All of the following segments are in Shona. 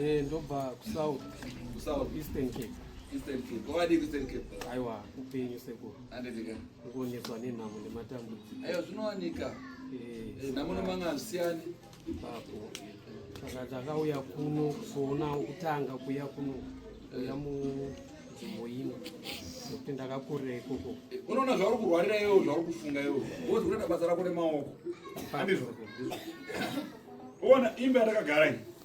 Eh, ndobva kusouth kusouth eastern cape eastern cape kwavadii kueastern cape aiwa upenyu sekuru anditika kuonekwa nenhamo nematambudziko aiwa zvinowanika eh, eh, nhamo nemanga hazvisiyani ipapo saka takauya kuno kuzoona kutanga kuya kuno kuya munzvimbo ino nekuti ndakakurira ikoko unoona zvauri kurwarira iwo zvauri kufunga iwo wozi kutoita basa rako nemaoko ona imba yatakagara iyi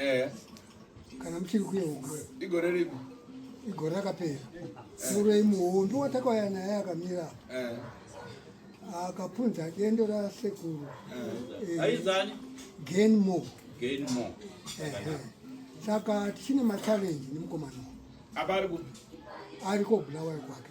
Eh. Kana mchiri kuye uko. Igore ripi? Igore rakapera. Eh. Muroyi muhombi watakauya naye akamira. Eh. Akapunza dendo ra sekuru. Eh. Aizani? Gain more. Gain more. Eh. Saka tichine ma challenge nemukomana. Apa ari ku? Ari ko Bulawayo kwake.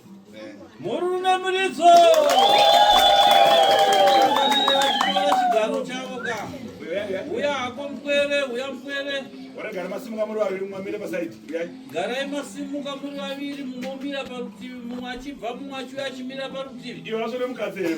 murunamiridzo chigaro chavo ka uya hako mpwere uya mpwere gara masimuka muri vaviri mumwe amire pasaidi garai masimuka muri vaviri mumwe omira parutivi mumwe achibva mumwe achiuya achimira parutivi ivo vasvore mukadzi here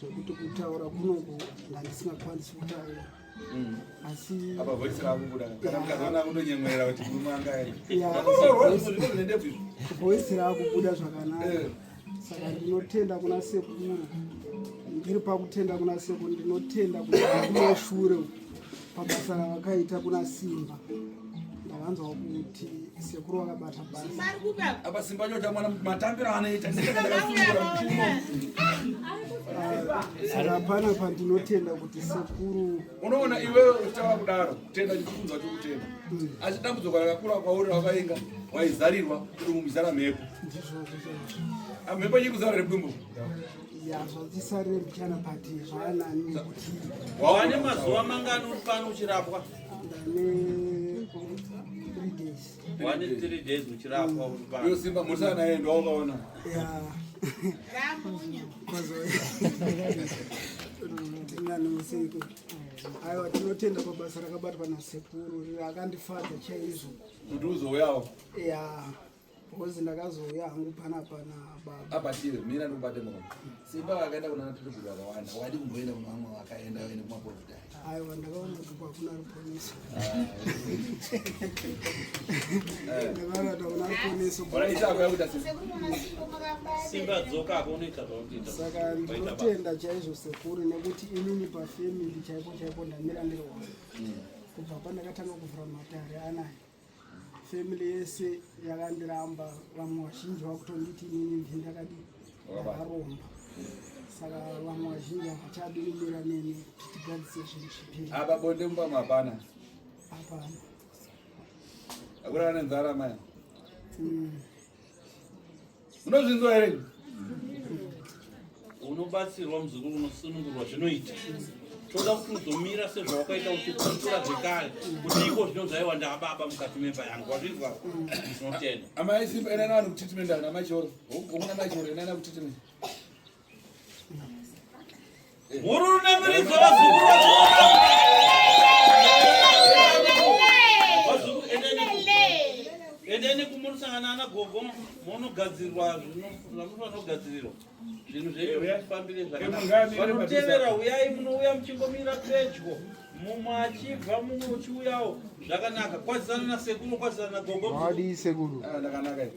zvekuti kutaura kunongo ndandisingakwanisi kutaura mm. asi apa voice rako kuda kana mukadzi wanga kundonyemwerera kuti murume anga voice rako kuda zvakanaka eh. saka ndinotenda kuna sekuru ndiri pakutenda kuna sekuru ndinotenda kuti kumashure uku pabasa ravakaita kuna Simba ndakanzwa kuti sekuru vakabata basa apa Simba nyota mwana matambiro anoita saka hapana pandinotenda kuti sekuru unoona iwewe uchitava kudaro tenda chikukunzwa chokutenda hmm. asi dambudziko rakakura kwauri rakainga waizarirwa kuti mumizara mhepo mhepo nyikuzara repwimbo wawane mazuva mangani uri pano uchirapwa wane three days uchirapwa uri pano iyo simba musana yendo wakaona aiwa tinotenda pabasa rakabatwa nasekuru akandifadza chaizvo kuti uzouyawo ya Bozi ndakazouya hangu pana pana baba. Apa tiri mira ndikubate muromo. Simba vakaenda kuna natiri kuti vakawanda. Wadi kumboenda kuna vamwe vakaenda vaende kuma profita. Aiwa ndakaona kuti kwakuna ruponeso. Ndakaona kuti kuna ruponeso. Bora isa kwa kuta simba. Simba dzoka hapo unoita zvakuita. Saka ndinotenda chaizvo sekuru nekuti inini pa family chaipo chaipo ndamira ndiri wangu. Hmm. Kubva pandakatanga kuvhura matare anaye. family yese yakandiramba vamwe vazhinji vakutonditi inini ndini ndakadi ndakaromba saka vamwe vazhinji havachadi kumira neni kuti tigadzise zvinhu zvipiri apa bonde mumba mapana hapana akurana nenzara maya mm. Unozvinzwa here? Unobatsirwa muzukuru unosunungurwa zvinoita. Toda kuti uzomira sezvawakaita uchiputura zvekare kuti iko zvino zvaiwa ndababa mukati memba yangu wazvinzwa zvinotenda. Amai Simba ina nani kutreatment ana mai Choro. Ukuna mai Choro ina nani kutreatment. endeni kumurisangana ana gogo monogadzirwa zvamunofanogadzirwa zvinhu zvenyu zvifambire zvakanaavanotevera uyai munouya muchingomira pedyo mumwe achibva mumwe uchiuyawo zvakanaka kwazisana nasekuru kwazisana nagogo sekuru ah,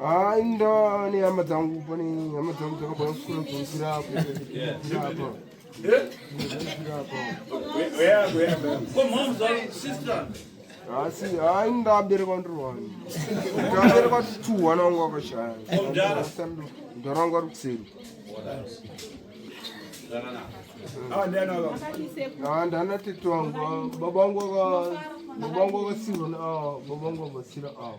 Ai ndani hama dzangu pane hama dzangu dzakabva kusura kunzira apo. asi hayi ndabereka ndiri wani ndabereka two wana wangu wakashaya mdara wangu ari kuseri ndana tete wangu baba wangu baba wangu wakasirwa baba wangu wakasira awa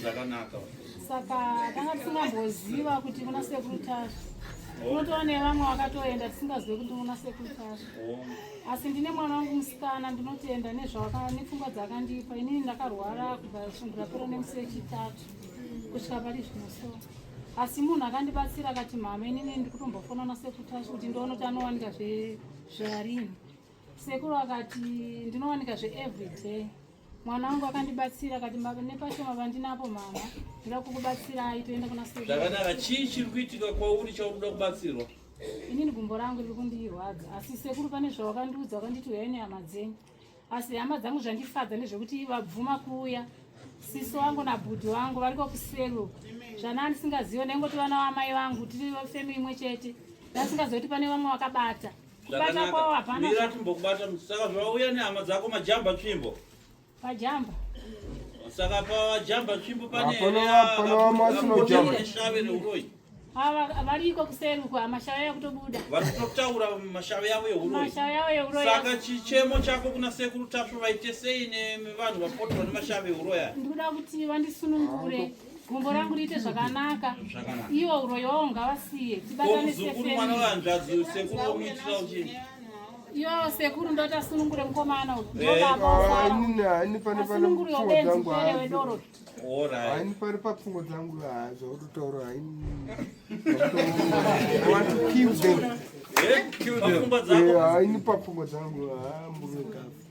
zvakanaka saka tanga tisingamboziva kuti kuna sekuru tasvi oh. unotoona nevamwe vakatoenda tisingazive kuti kuna sekuru tasvi oh. asi ndine mwana wangu musikana ndinotenda nepfungwa dzakandipa inini ndakarwara kubva shungu rapera nemusi wechitatu kusvika pari zvino so asi munhu akandibatsira akati mhama inini ndikutombofona nasekuru tasvi kuti ndiono tanowanika zvarini Sekuru akati ndinowanika zve everyday mwana wangu akandibatsira akati nepashoma vandinapo mama ndoda kukubatsirai toenda kuna sekuru. Zvakanaka chii chiri kuitika kwauri chaunoda kubatsirwa? Inini gumbo rangu riri kundirwadza asi sekuru pane zvawakandiudza wakanditi uyai nehama dzenyu asi hama dzangu zvandifadza ndezvekuti vabvuma kuuya sisi wangu nabhudhi wangu variko kuselu zvana andisingazive ndaingoti vana vamai vangu tiri femi imwe chete ndasingazive kuti pane vamwe vakabata Kubata kwao hapana. Mira timbokubata saka zvauya nehama dzako majamba tsvimbo. Pajamba. Saka pa jamba tsvimbo pane hapana hapana wamasino jamba. Shave neuroyi. Ava variko kuseri uko amashava yavo kutobuda. Vari kutotaura mashava yavo euroyi. Mashava yavo euroyi. Saka chichemo chako kuna sekuru tasvu vaite sei nevanhu vapotwa nemashava euroyi. Ndikuda kuti vandisunungure. gumbo rangu riite zvakanaka iwo uroyi wawo ngavasiye tibatane yo sekuru ndoita sunungure mukomana uyoasunungure yobenziere wedoro haini pari papfungo dzangu zvakutotaura haini haini papfungo dzangu hambuekafu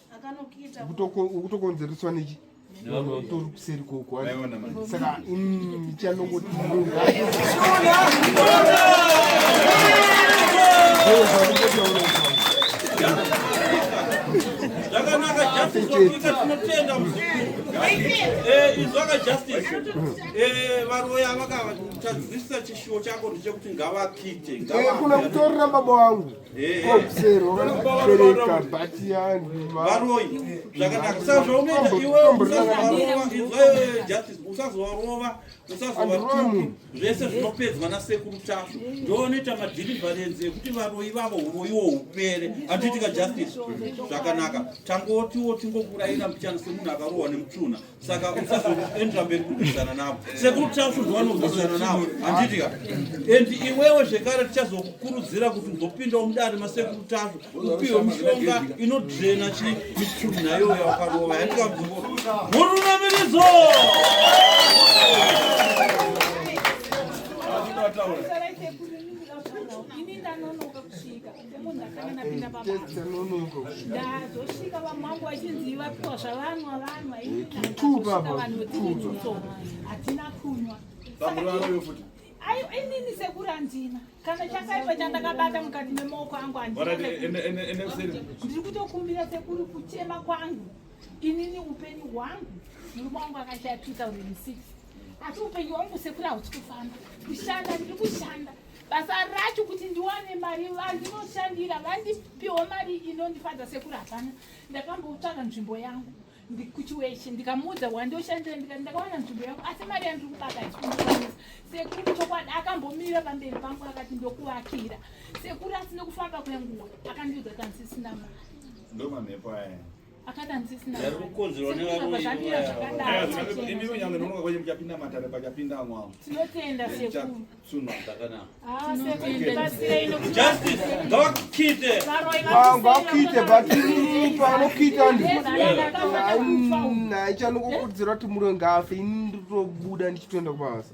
ukutokonzereswa nechi tori kuseri koko saka chanongoti izvaka justice varoya vakatadzisa chishuwo chako ndechekuti ngavakite kuna kutorira baba wangu kuserwa bhati yangu varoyi zvakanaka saka zvaunoita iwe usazovarova justice usazovarova usazovaruki zvese zvinopedzwa nasekuru tasvu ndoonoita madhilivharenzi ekuti varoyi vavo uroyiwo upere handiitika justice zvakanaka tangotiwo tingokurayira mbichana semunhu akarohwa nemutunha saka usazoenda mberi kurwisana navo sekuru tasvudzi vanorwisana navo handitika and iwewe zvekare tichazokukurudzira kuti uzopindawo mudare masekuru tasvu upiwe mishonga inodrena chi michuru nayo yawakarova yandika mzungo murunamiridzo Thank you. semunhu akangana pinda pabazosvika vamwangu vachinzi vapiwa zvavanwa vanwa vanhu vetiiso hatina kunwa inini sekuru handina kana chakaipa chandakabata mukati memaoko angu handinandiri kutokumbira sekuru kuchema kwangu inini upenyu hwangu murume wangu akashaya 2006 asi upenyu hwangu sekuru hausi kufamba kushanda ndiri kushanda basa racho kuti ndiwane mari vandinoshandira vandipiwo mari inondifadza sekuru hapana ndakamboutsvaga nzvimbo yangu kuchiweshe ndikamuudza wandoshandira ndikati ndakawana nzvimbo yangu asi mari yandiri kubaka ichikundiwanisa sekuru chokwadi akambomira pamberi pangu akati ndokuvakira sekuru asine kufamba kwenguva akandiudza kansisina mari ndomamhepo aya aichanokukurudzira kuti muroi ngafe ini nditobuda ndichitoenda kubasa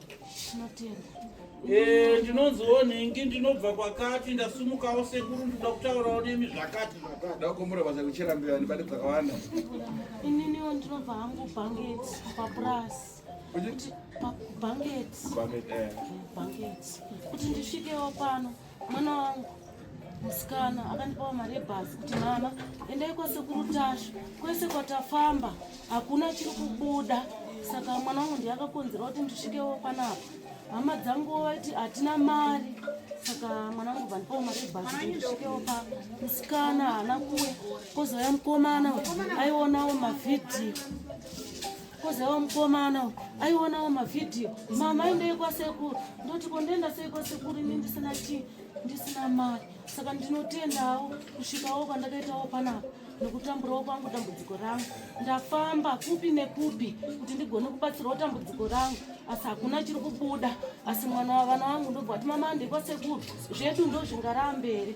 Eh, ndinonziwo nhingi ndinobva kwakati ndasumukawo sekuru ndinoda kutaurawo nemi zvakati zvakati ndakumbura basa kuchera mbira ndibade dzakawanda ininiwo ndinobva hangu banget papurasi banget banget eh. kuti ndisvikewo pano Mwana wangu musikana akandipawo mari yebhazi kuti mama endai kwasekuru tashu kwese kwatafamba hakuna chiri kubuda saka mwana wangu ndiye akakonzera kuti ndisvikewo panapa hama dzangu vaiti hatina mari saka mwana wangu vandipawo mari yebhazi kuti ndisvikewo pa musikana haana kuya kozouya mukomana aionawo mavhidhiyo kozewa mukomana aionawo mavhidhiyo mama aendei kwasekuru ndoti kondienda sei kwasekuru ini ndisina chii ndisina mari saka ndinotendawo kusvikawo kwandakaitawo panapa nekutamburawo kwangu dambudziko rangu ndafamba kupi nekupi kuti ndigone kubatsirawo dambudziko rangu asi hakuna chiri kubuda asi mwana wavana wangu ndobva kuti mama andekwasekuru zvedu ndozvingaramberi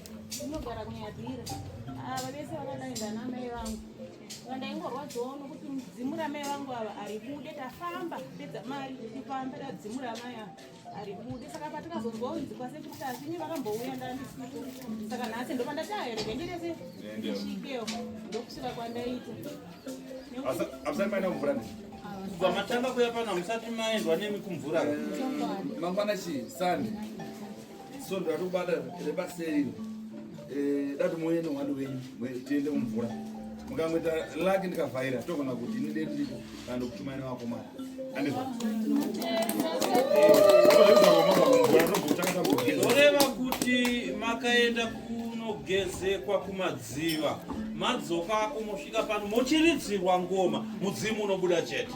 Ndinogara kunyadira. Ava ah, vese vakadai ndana mai vangu. Vandaingorwadziwawo nokuti mudzimu ramai vangu ava aribude tafamba pedza mari kufamba tadzimu ramai ava aribude saka patikazonzwa unzi kwasekuru tasini vakambouya ndandisipo saka nhasi ndopandati aherege ndirese ndisvikewo ndokusvika kwandaita pamatanga kuya pano hamusati maendwa nemi kumvura mangwana chii sande so ndatobata repaseri eh, dati moyene wani wenyu tiende mumvura mukamweta laki ndikavhaira togona kuti ini dei ndiko kana ndokutumaina wako mari andizvo oreva kuti makaenda kunogezekwa kumadziva madzoka kumosvika pano mochiridzirwa ngoma mudzimu unobuda chete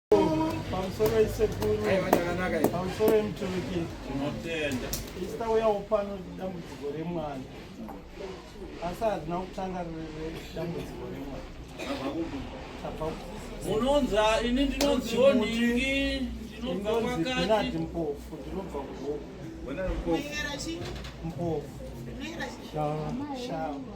pamusoro isekuru pamusoro imuturiki tinotenda isita uyawo pano dambudziko remwana asi hazina kutanga dambudziko remwana munonza ini ndinonziwo nhingi ndinobva kwakati mpofu ndinobva kuhoku mpofu shava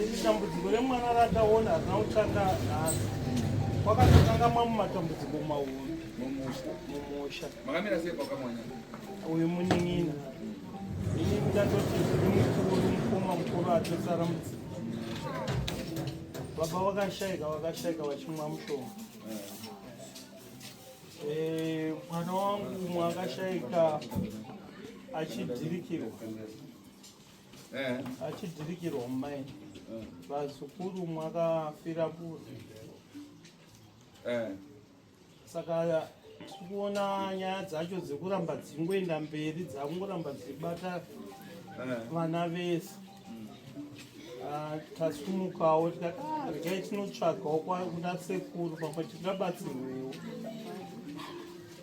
Iri dambudziko remwana rataona harina kutsvaka nhasi. Kwakatotanga mamu matambudziko mahuru mumusha. Makamira sei pakamwana? Uyu munin'ina. Ini ndatoti ndiri mukuru mukoma mukuru atosara mudzimba. Baba vakashaika vakashaika vachimwa mushonga. Eh, mwana wangu mwakashaika achidhirikirwa eh. achidhirikirwa mumai vazukuru eh. mwakafira kuti eh. saka tikuona nyaya dzacho dzekuramba dzingoenda mberi dzakungoramba dzichibata vana vese mm. ah, tasumukawo tikati ah, regai tinotsvagawo kuna sekuru pamwe tingabatsirwewo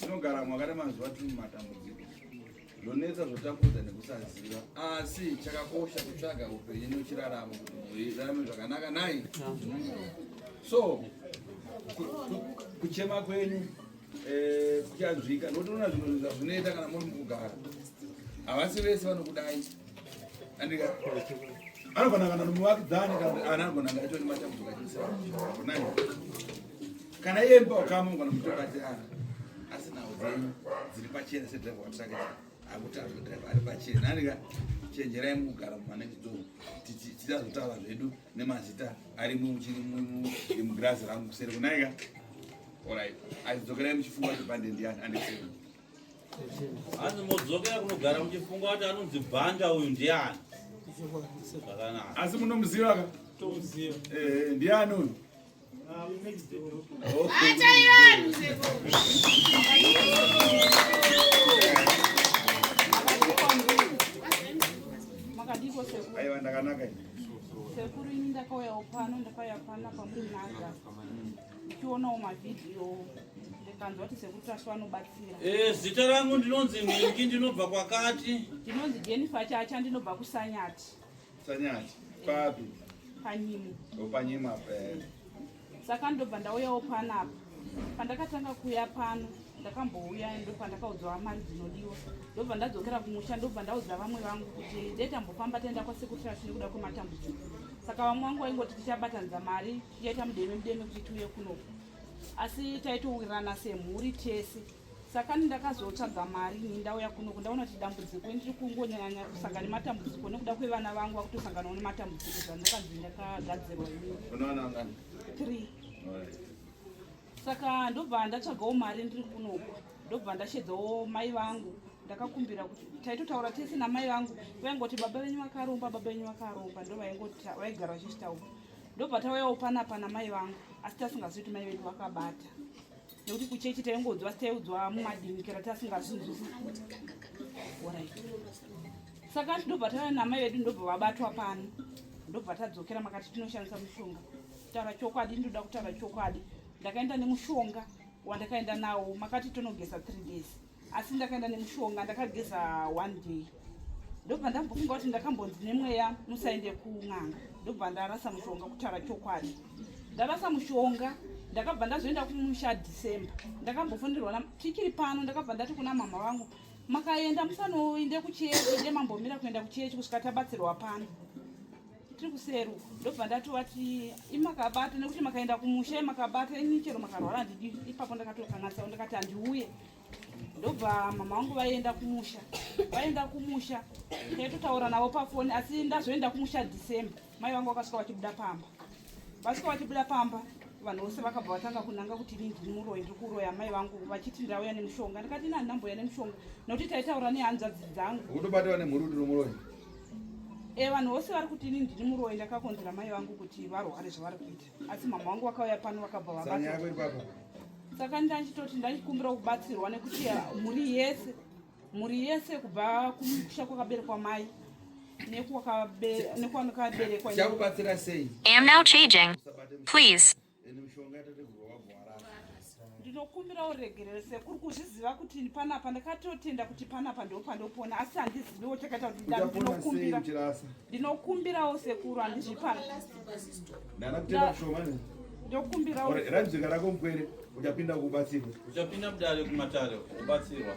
tinogara mwakare mazuva tiri mumatambudziko zvonetsa zvotambudza nekusaziva asi chakakosha kutsvaga upenyu nochiraramo kuti muirarame zvakanaka nai so kuchema kwenyu eh, kuchanzwika nokuti unoona zvinhu zvazvinoita kana muri mukugara havasi vese vanokudai andika anogona kana nomuvakidzani kana anagona ngaitoni matambudziko achiisa Kana iye mba wakamu kana mutora ati ah asi nawo dzenyu dziri pachena se driver watsake akuti ari driver ari pachena nani ka chenjerai mukugara mumanage door titi tichazotaura zvedu nemazita ari muchiri mugirazi rangu kuseri kunai ka alright azidzokerai muchifunga kuti bande ndiyani andisei hanzi modzokera kunogara muchifunga kuti anonzi bhanda uyu ndiyani asi munomuziva ka eh, eh, ndiyani uyu aiwa ndakanaka sekuru ini ndakauyawo pano ndakauya pana kwamuri naga ndichionawo mavhidhiyo ndikanzwa kuti sekuru tashu vanobatsira eh, zita rangu ndinonzi mingi ndinobva kwakati ndinonzi jenifa chacha ndinobva kusanyati Sanyati, papi? Panyimo. Oh, panyimo apa. Eh. Saka ndobva ndauyawo pano apa. Pandakatanga kuya pano ndakambouya ndo pandakaudzwa mari dzinodiwa ndobva ndadzokera kumusha ndobva ndaudza vamwe vangu kuti ndetambofamba taenda kwasekutrash nekuda kwematambudziko saka vamwe vangu vaingoti tichabatanidza mari tichaita mudeme mudeme kuti tiuye kunoku asi taitowirirana semhuri tese saka ndakazotsvaga mari ini ndauya kunoku ndaona kuti dambudziko ndiri kungonyanya kusanga nematambudziko nekuda kwevana vangu vakutosanganawo nematambudziko zvandakanzi ndakagadzirwa inii saka ndobva ndatsvagawo mari ndiri kunoku ndobva ndashedzawo mai vangu ndakakumbira kuti taitotaura tese namai vangu vaingoti baba venyu vakaromba baba venyu vakaromba ndo vaigara vachizvitaura ndobva tauyawo panapa namai vangu asi tasingazivi kuti mai vedu vakabata nekuti kuchechi taingonzwa sitaiudzwa mumadimikira tasingazunzusi orit saka ndobva tana namai vedu ndobva vabatwa pano ndobva tadzokera makati tinoshandisa mushonga kutaura chokwadi ndinoda kutaura chokwadi ndakaenda nemushonga wandakaenda nawo makati tonogesa three days asi ndakaenda nemushonga ndakageza one day ndobva ndambofunga kuti ndakambonzi nemweya musaende kun'anga ndobva ndarasa mushonga kutaura chokwadi ndarasa mushonga ndakabva ndazoenda kumusha december ndakambofonderwa tichiri pano ndakabva ndati kuna mama vangu makaenda musanoinde kuchechi inde mambomira kuenda kuchechi kusvika tabatsirwa pano tiri kuseru ndobva ndati wati imakabata nekuti makaenda kumusha imakabata ini chero makarwara handidi ipapo ndakatokanatsawo ndakati handiuye ndobva mama vangu vaienda kumusha vaienda kumusha taitotaura navo pafoni asi ndazoenda kumusha december mai vangu vakasvika vachibuda pamba vasvika vachibuda pamba vanhu vose vakabva vatanga kunanga kuti ini ndini muroyi ndiri kuroya mai vangu vachiti ndauya nemushonga ndikati ini handinambouya nemushonga nokuti taitaura nehanzvadzi dzangu unobatwa nemhuri kuti nomuroyi Eh, vanhu vose vari kuti ini ndiri muroyi ndakakonzera mai vangu kuti varware zvavari kuita asi mama vangu vakauya pano vakabva vabaa saka ndachitoti ndachikumbira kubatsirwa nekuti mhuri yese mhuri yese kubva kumusha kwakaberekwa mai nekuwakaberekwa chakubatsira sei ende mushonga yatategurwa wabhoarara ndinokumbira uregerero sekuru kuzviziva kuti panapa ndakatotenda kuti panapa ndopandopona asi handiziviwo chakaita kuti ndinokumbira ndinokumbirawo sekuru handizvipa ndokumbirawo rajika rako mkwere uchapinda kubatsirwa uchapinda kudare kumatare ubatsirwa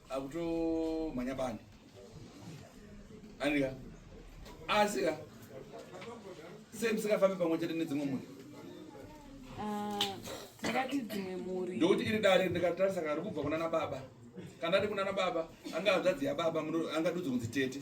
akutomhanya bani andika asi ka sei musingafambi pamwe chete nedzimwe mhuri ah, tingati dzimwe mhuri ndokuti iri dare ndikatarisa kari kubva kuna nababa kana ari kuna nababa anga hanzvadzi yababa angadudzi kunzi tete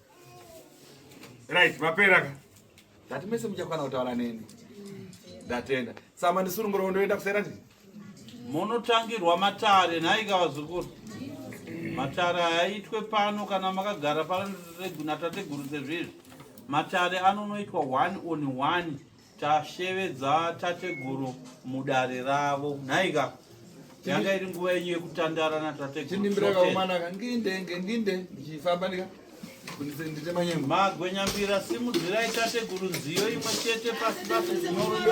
Right, mapera ka. Ndati mese muchakwana kutaura neni. Ndatenda. Sama ndisurunguro ndoenda kusera ndi. Munotangirwa matare nhai ka vazukuru. Matare aitwe pano kana makagara pano reguna tateguru sezvizvi. Matare anonoitwa one on one. tashevedza tateguru mudare ravo nhaika yanga iri nguva yenyu yekutandara natategurumagwenyambira simudzirai tateguru nziyo imwe chete pasi pasi dzinorudo